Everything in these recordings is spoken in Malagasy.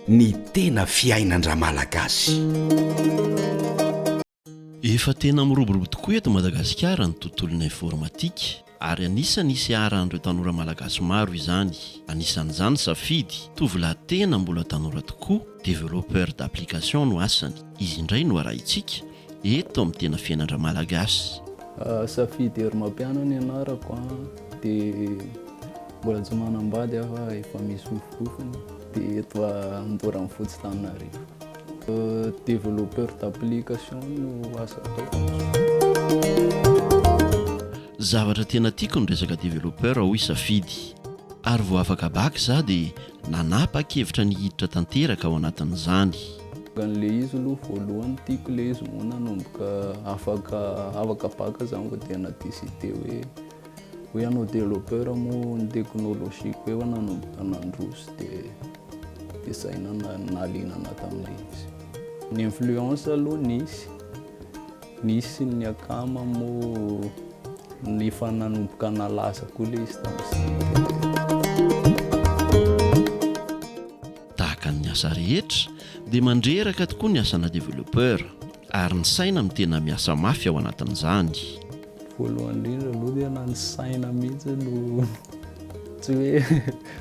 Ny tena fiainan-dRamalagasy. Efa tena miroborobo tokoa eto Madagasikara ny tontolon'ny informatika ary anisan'ny hisy iharan'ireo tanora malagasy maro izany. Anisan'izany Safidy, tovolahy tena mbola tanora tokoa, développeur d'application no asany. Izy indray no arahintsika. eto amin'ny tena fiainan-dramalagasy. Safidy Herimampiana ny anarako a, dia mbola tsy manambady aho fa efa misofompofona, dia eto Andorra Fotsy Tananarivo. Développeur d'application no asa ataoko. Zavatra tena tiako ny resaka développeur hoy Safidy, ary vao afaka bac za dia Nanapa-kevitra ny hiditra tanteraka ao anatin'izany. An'ilay izy aloha voalohany tiako ilay izy moa nanomboka afaka afaka bac izany vao dia na décider hoe hoe hanao développeur moa ny technologie ko efa nanomboka nandroso dia dia izay no nahaliana anah tamin'ilay izy. Ny influence aloha nisy. Nisy ny akama moa efa nanomboka nalaza koa ilay izy tamin'izay. Tahaka ny asa rehetra dia mandreraka tokoa ny asana developpeur ary ny saina no tena miasa mafy ao anatin'izany. Voalohany indrindra aloha dia na ny saina mihitsy no tsy hoe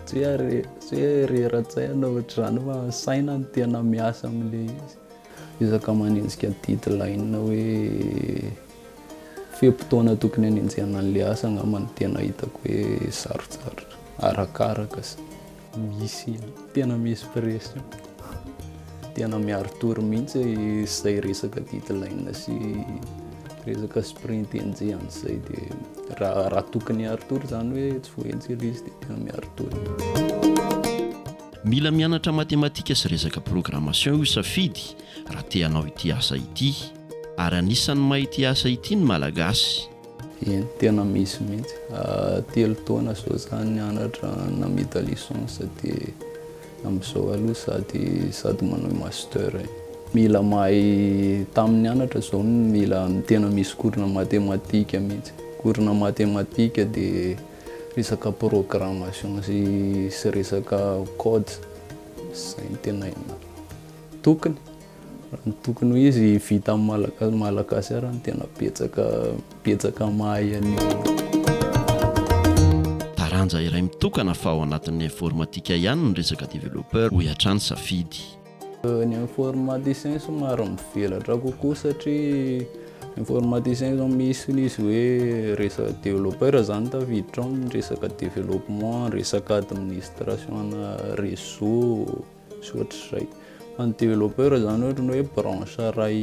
tsy hoe tsy hoe rera-tsaina ohatr'izany fa saina no tena miasa amin'ilay izy. Ezaka manenjika deadline hoe fe-potoana tokony hanenjehana an'ilay asa angamba no tena hitako hoe sarotsarotra, arakaraka izay. Misy, tena misy pression, tena miaro tory mihitsy izay resaka deadline sy resaka sprint enjehina izay dia raha, raha tokony hiaro tory izany hoe tsy voaenjehina ilay izy dia tena miaro tory. Mila mianatra matematika sy resaka programmation io safidy raha te hanao ity asa ity. Ary anisan'ny mahay ity asa ity ny Malagasy. Eny, tena misy mihitsy. Telo taona izao izaho nianatra namita licence dia amin'izao aloha sady sady manao master. Mila mahay tamin'ny nianatra izao mila tena misy cours-na matematika mihitsy. Cours-na matematika dia. Resaka programmation sy resaka code zay no tena tokony, ny tokony ho izy vita amin'ny malagasy ary no tena betsaka betsaka mahay an'io. Taranja iray mitokana fa ao anatin'ny informatika ihany ny resaka developpeur, hoy hatrany Safidy. Ny informaticien somary mivelatra kokoa satria informaticien zao misy izy hoe resaka developpeur zany tafiditra ao ny resaka developpement, ny resaka administration ana réseau sy ohatr'izay. Fa ny developpeur zany ohatry ny hoe branche iray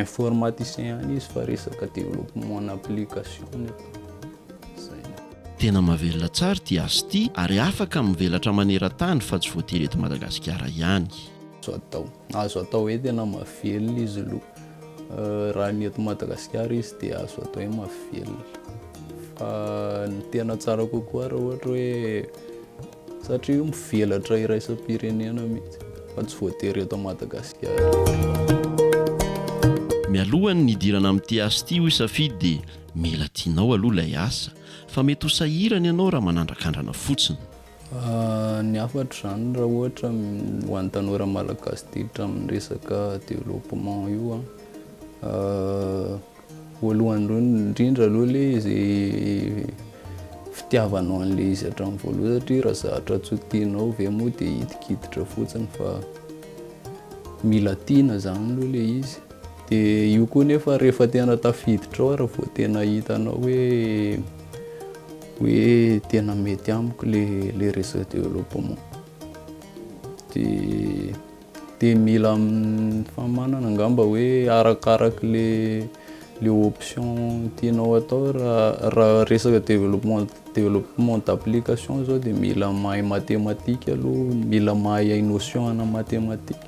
informaticien ihany izy fa resaka developpement ana application nefa. Tena mahavelona tsara ity asa ity ary afaka mivelatra maneran-tany fa tsy voatery eto Madagasikara ihany. Azo atao. Azo atao hoe tena mahavelona izy lo. Raha ny eto Madagasikara izy dia azo atao hoe mahavelona. Fa ny tena tsara kokoa raha ohatra hoe, satria io mivelatra iraisam-pirenena mihitsy fa tsy voatery eto Madagasikara. Mialohan'ny hidirana amin'ity asa ity hoy Safidy dia. Mila tianao aloha ilay asa fa mety ho sahirana ianao raha manandrakandrana fotsiny. Ny hafatra izany raha ohatra ho an'ny tanora malagasy ditra amin'ny resaka développement io an, voalohany indrindra aloha ilay izay fitiavanao an'ilay izy hatramin'ny voalohany satria raha zatra tsy ho tianao ve moa dia hidikiditrà fotsiny fa mila tiana izany aloha ilay izy. Dia io koa nefa rehefa tena tafiditra ao ary vao tena hitanao hoe hoe tena mety amiko le le réseau développement dia dia mila famanana angamba hoe arakaraka le le option tianao atao raha raha resaka développement développement d'application zao dia mila mahay mathématique aloha mila mahay notion ana mathématique